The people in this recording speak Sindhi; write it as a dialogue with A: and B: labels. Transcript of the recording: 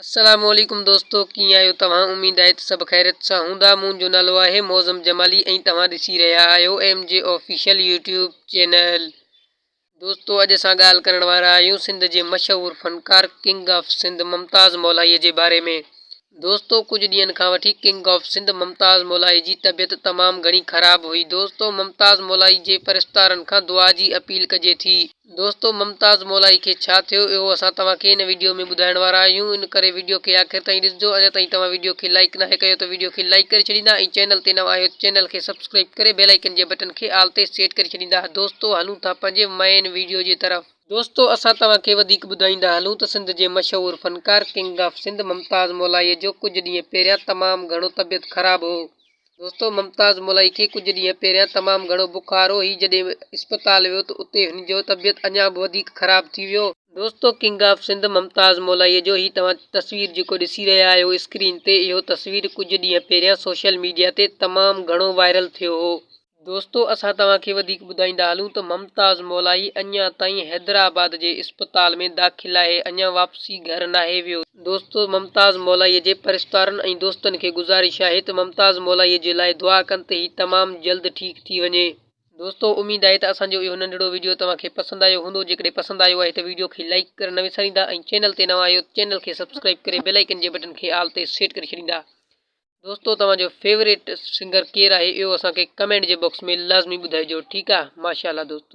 A: السلام عليڪم دوستو ڪيئن آهيو توهان اميد آهي ته سڀ خيريت سان هوندا منهنجو نالو آهي معظم جمالي ۽ توهان ڏسي رهيا آهيو M G official YouTube channel دوستو اڄ اسان ڳالهه ڪرڻ وارا آهيون سنڌ جي مشهور فنڪار ڪنگ آف سنڌ ممتاز مولائي جي باري ۾ دوستو ڪجهه ڏينهن کان وٺي ڪنگ آف سنڌ ممتاز مولائي جي طبيعت تمام گهڻي خراب هئي دوستو ممتاز مولائي جي پرستارن کان دعا جي اپيل ڪجي ٿي دوستو ممتاز مولائي کي ڇا ٿيو اهو اسان توهان کي ان ويڊيو ۾ ٻڌائڻ وارا آهيون ان ڪري ويڊيو کي آخر تائين ڏسجو اڃا تائين توهان ويڊيو کي لائيڪ ناهي ڪيو ته ويڊيو کي لائيڪ ڪري ڇڏيندا ۽ چينل تي نوان آهيو ته چينل کي سبسڪرائيب ڪري بيل آئيڪن جي بٽن کي آل تي سيٽ ڪري ڇڏيندا دوستو هلون ٿا پنهنجي مئين ويڊيو جي طرف. دوستو اسان توهان کي وڌيڪ ٻڌائيندا هلون ته سنڌ جي مشهور فنڪار ڪنگ آف سنڌ ممتاز مولائي جو ڪجهه ڏينهن پهريان تمام گهڻو طبيعت خراب هو دوستو ممتاز ملائي کي ڪجهه ڏينهن پهريان تمام گهڻو بخار هو، هي جڏهن اسپتال ويو ته اتي هن جو طبيعت اڃا به وڌيڪ خراب ٿي ويو. دوستو ڪنگ آف سنڌ ممتاز مولائي جو هي توهان تصوير جيڪو ڏسي رهيا آهيو اسڪرين تي اهو تصوير ڪجهه ڏينهن پهريان سوشل ميڊيا تي تمام گهڻو وائرل ٿيو هو، دوستو اسان توهان کي وڌيڪ ٻڌائيندا هلون ته ممتاز مولائي اڃان تائين حيدرآباد جي اسپتال ۾ داخل آهي اڃان واپسي گهر ناهي ويو، دوستو ممتاز مولائي جي پرستارن ۽ دوستن کي گذارش آهي ته ممتاز مولائي جي لاء دعا ڪن ته هي تمام جلد ٺيڪ ٿي وڃي. دوستو اميد آهي ته اسان جو اهو ننڍڙو وڊيو توهان کي پسند آيو هوندو جيڪڏهن پسند آيو آهي ته وڊيو کي لائيڪ ڪرڻ نه وساريندا ۽ چينل تي نوان آهيو ته چينل کي سبسڪرائيب ڪري بيل آئيڪن جي بٽن کي آل تي سيٽ ڪري ڇڏيندا دوستو توهان جو فيوريٽ سنگر ڪير آهي اهو اسان کي ڪمينٽ جي باڪس ۾ لازمي ٻڌائجو ٺيڪ آ ماشاء الله دوستو.